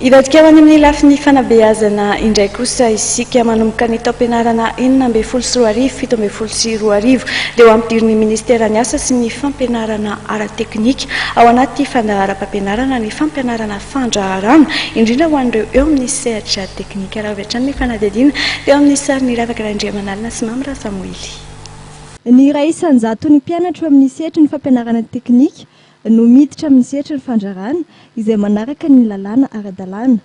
Hivadika ho any amin'ny lafiny fanabeazana indray kosa isika. Manomboka ny taom-pianarana enina ambin'ny folo sy roa arivo, fito ambin'ny folo sy roa arivo dia ho ampidirin'ny Ministeran'ny Asa sy ny Fampianarana ara-teknika ao anaty fandaharam-pampianarana ny fampianarana fandraharahana, indrindra ho an'ireo eo amin'ny sehatra teknika. Raha avy hatrany ny fanadihadiana teo amin'ny sarin'i Ravaka Randriamanalina sy Mamy Rasamoily. Ny iray isan-jaton'ny mpianatra eo amin'ny sehatry ny fampianarana teknika no miditra amin'ny sehatry ny fandrarana izay manaraka ny lalàna ara-dalàna.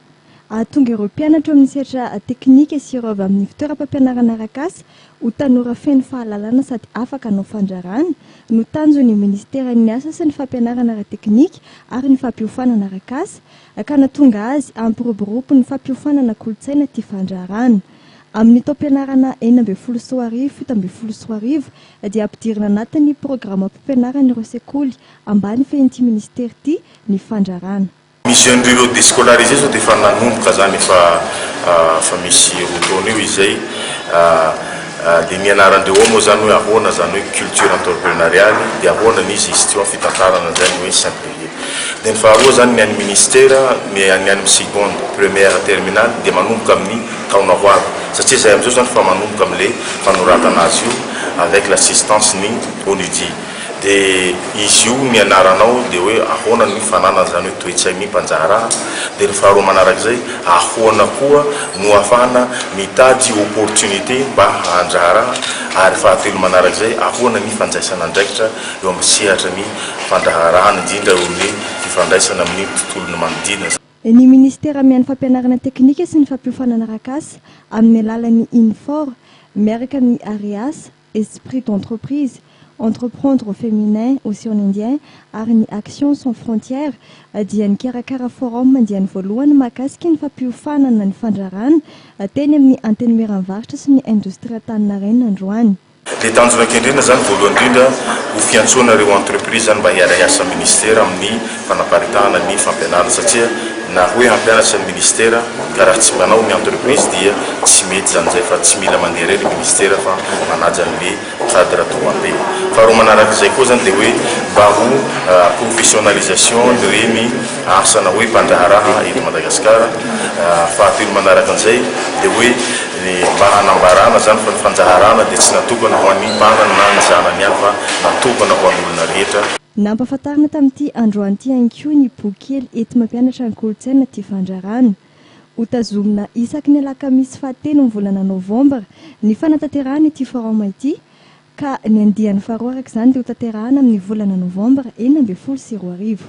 Hahatonga ireo mpianatra ao amin'ny sehatra teknika sy ireo avy amin'ny fitoeram-pampianarana arakasa ho tanora feno fahalalana sady afaka hanao fandrarana no tanjon'ny Minisiteran'ny Asa sy ny Fampianarana ara-teknika ary ny Fampiofanana arakasa ka nahatonga azy hampiroborobo ny fampiofanana kolontsaina tia fandrarana amin'ny taom-pianarana enina ambin'ny folo sy roa arivo fito ambin'ny folo sy roa arivo dia hampidirina anatin'ny programam-pimpianaran'ireo sekoly ambany fehin'ity minisitera ity ny fandraràna. Ny jeune ruraux descolarisés zao dia efa nanomboka izany efa efa misy roa taona eo izay dia nianaran-dreo ao moa izany hoe ahoana izany hoe culture entreprenariale dia ahoana ny gestion fitantarana izay ny hoe synthèse. Dia ny faharoa izany ny an'ny Ministera, ny an'ny any amin'ny seconde, première, terminale dia manomboka amin'ny taona ho avy satria izay amin'izao izany efa manomboka amin'ilay fanoratana azy io avec l'assistance ny ONUDI. Dia izy io ny anaranao dia hoe ahoana ny fananana izany hoe toe-tsain'ny mpandraharaha. Dia ny faharoa manarak'izay ahoana koa no ahafahana mitady opportunité mba handraharaha ary fahatelo manarak'izay ahoana ny fandraisana andraikitra eo amin'ny sehatra ny fandraharahana, indrindra eo amin'ny fifandraisana amin'ny tontolon'ny manodidina. Ny Minisitera miha ny Fampianarana Teknika sy ny Fampiofanana Arakasa amin'ny alalan'ny Infor, miaraka amin'ny AREAS, Esprit d'entreprise, Entreprendre au féminin ou sur l'Indien ary ny Action sans frontières dia nikarakara forum andiany voalohany mahakasika ny fampiofanana ny fandrarana teny amin'ny Antenimieramvarotra sy ny Indostria Antaninarenina androany. Dia tanjona kendrena izany voalohany indrindra ho fiantsoana ireo entreprise izany mba hiara-hiasa amin'ny Ministera amin'ny fanaparitahana ny fampianarana satria na hoe hampianatra ny Ministera ka raha tsy mpanao ny entreprise dia tsy mety izany izay fa tsy mila mandeha irery Ministera fa manaja an'le cadre domabe. Faharoa manarak'izay koa izany dia hoe mba ho professionalisation ireny asa na hoe mpandraharaha eto Madagasikara. Fahatelo manarakan'izay dia hoe Ny mba hanambarana izany fa ny fandaharana dia tsy natokana ho an'ny mpanany na ny zanany ihany fa natokana ho an'olona rehetra. Nampahafantarina tamin'ity androany ity ihany koa ny bokikely enti-mampianatra ny kolontsaina Tia Fandrarana. Ho tazomina isaky ny alakamisy fahatelo amin'ny volana novambra ny fanatanterahana ity forum ity ka ny andiany faharoa araka izany dia hotanterahana amin'ny volana novambra enina ambin'ny folo sy roa arivo.